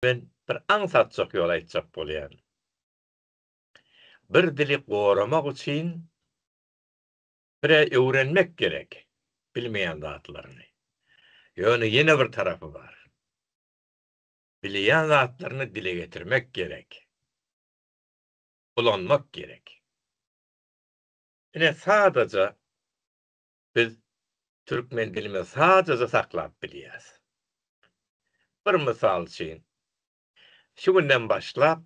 Men bir aňsatjak ýol aýtjak bolýan. Bir dili goramak üçin bire öwrenmek gerek bilmeýän zatlaryny. Ýöne ýene bir tarapy bar. Bilýän zatlaryny dile getirmek gerek. Ulanmak gerek. Ine sadaja Biz türkmen dilimizi sadaja saklap bilýäris. Bir mysal üçin, şu günden başlap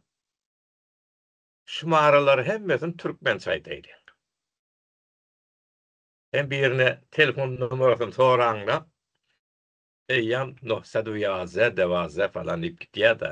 şumaralary hemmesini türkmençe aýdaýlyň. Sen birine telefon numarasyny soraňda, eýýäm nohsadu ýaze, dewaze falan diýip gitýär-de.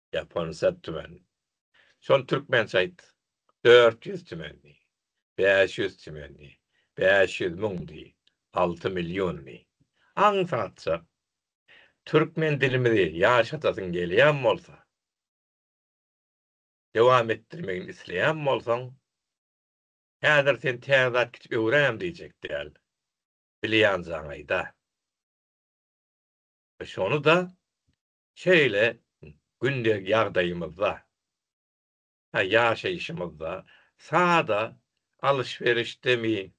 Ýapon sed tümen. Şol türkmençe aýt. Dört ýüz tümen diý. Bäş ýüz tümen diý. Bäş ýüz müň diý. Alty million diý. Aňsatja. Türkmen dilimizi ýaşadasyň gelýän bolsa, dowam etdirmegini isleýän bolsaň, häzir sen täze zat gidip öwräýem diýjek däl. Bilýän jaň aýda. Şony-da Şeýle gündelik ýagdaýymyzda, ýaşaýşymyzda sada alyş-berişdemi,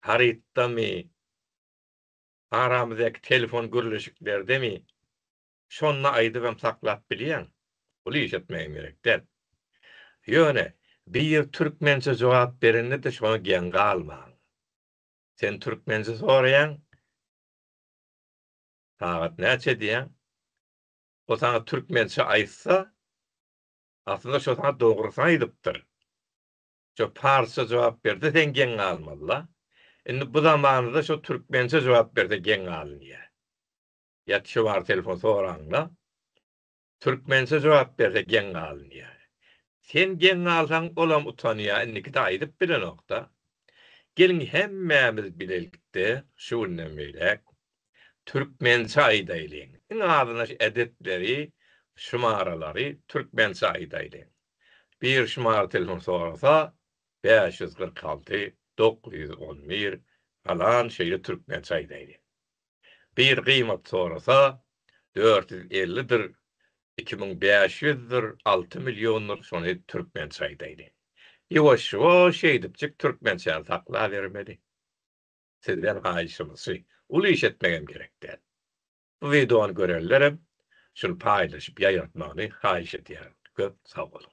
harytdamy, aramyzdaky telefon gürleşiklerdemi, şonda aýdyp hem saklap bilýän, uly iş etmegem gerek däl. Ýöne biri türkmençe jogap berende-de şoňa geň galmaň. Sen türkmençe soraýaň. Sagat näçe diýýäň? O saňa türkmençe aýtsa, aslynda şo saňa dogrusyny aýdypdyr. Şo parsça jogap berse seň geň galmaly-la. Indi bu zamanada şo türkmençe jogap berse geň galynýar. Ýa Çuwary telefon soraň-la. Türkmençe jogap berse geň galyn diýýär. Sen geň galsaň olam utanýar indikide aýdyp bilenokda. Geliň hemmämiz bilelikde şu günden beýläk türkmençe aýdaýlyň. Iň azynda şu ädetleri, şumaralary türkmençe aýdaýlyň. Bir şumara telefon sorasa bäş ýüz kyrk alty, dokuz ýüz on bir, galan şeýle türkmençe aýdaýlyň. Gyz gymat sorasa, dört ýüz elli dir, iki müň bäş ýüz dir, alty million dir şony türkmençe aýdaýdy. Ýuwaş-ýuwaş şeýdipjik türkmençäni saklabermeli. Sizden haýyşymyz-şy, uly iş etmegem gerek däl. Bu wideony görenlerem şuny paýlaşyp ýaýratmagyny haýyş edýärin. Köp sag boluň.